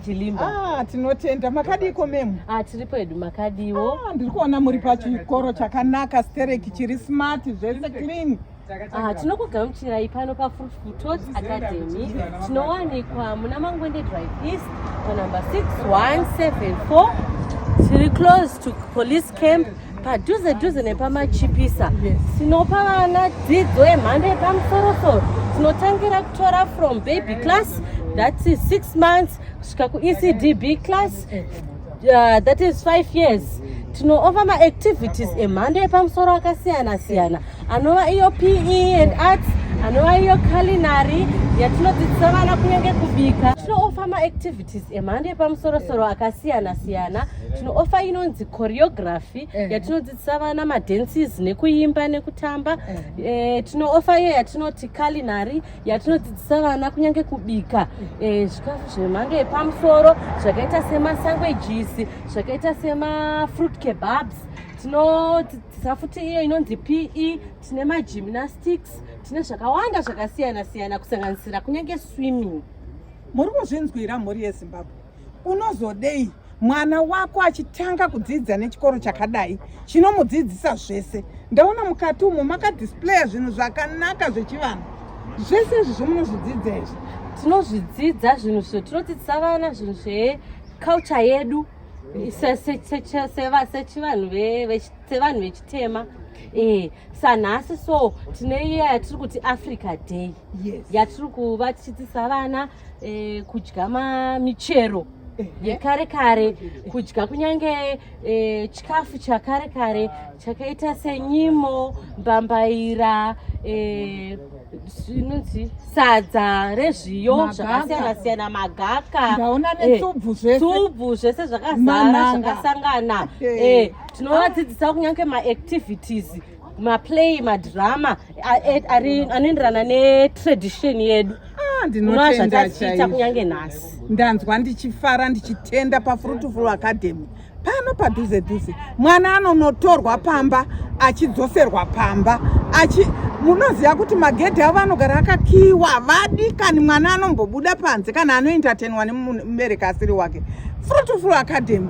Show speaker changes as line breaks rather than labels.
Chilimba. Ah, tinotenda
makadiiko memu? Ah, tiri pedu
makadiwo. Ah, ndiri kuona muri
pachikoro chakanaka stereki chiri smart zvese clean. Ah, tinokugamuchirai
pano pafruit frutos academy tinowanikwa muna mangwende drive east panumber 6174 tiri close to police camp padhuze dhuze nepamachipisa tinopa vana dzidzo yemhando yepamusorosoro tinotangira kutora from baby class that is six months kusvika kuecdb class uh, that is five years tinoova maactivities emhando yepamusoro akasiyana siyana anova iyo pe and arts anova iyo culinary yatinodzidzisa vana kunyange kubika tinoova maactivities emhando yepamusorosoro eh. akasiyana siyana eh. tinoofa inonzi choreography eh. yatinodzidzisa vana madances nekuimba nekutamba tinoofa iyo yatinoti kalinari yatinodzidzisa vana kunyange kubika zvikafu zvemhando yepamusoro zvakaita semasanguages zvakaita semafruit kebabs tinodzidzisa futi iyo inonzi pe tine magymnastics tine zvakawanda zvakasiyana siyana kusanganisira kunyange swimming muri
kuzvinzwira mhuri yezimbabwe unozodei mwana wako achitanga kudzidza nechikoro chakadai chinomudzidzisa zvese ndaona mukati umo makadisplaya zvinhu zvakanaka zvechivanhu zvese izvi zvomunozvidzidza izvi tinozvidzidza
zvinhu zvo tinodzidzisa vana zvinhu zveculture yedu sechivanhu sevanhu vechitema eh, sanhasi so tine iya yatiri kuti africa day yes. yatiri kuva tichidzisa vana eh, kudya michero eh. yekare kare kudya kunyange eh, chikafu chakare kare chakaita senyimo mbambaira eh, zvinonzi sadza rezviyo zvakasiyana siyana magaka ndaona netsubvu
eh, zvese
zvakazara zvakasangana eh. tinovadzidzisa kunyange maactivities maplay madrama anoenderana netradition yedu ah, ndinotendazvatachiita
kunyange nhasi
ndanzwa ndichifara
ndichitenda pafruitful academy pano padhuze dhuze mwana anonotorwa pamba achidzoserwa pamba achi munoziva kuti magedhi avo anogara akakiwa vadikani mwana anombobuda panze kana anoentertainwa nemubereki asiri wake fruitful academy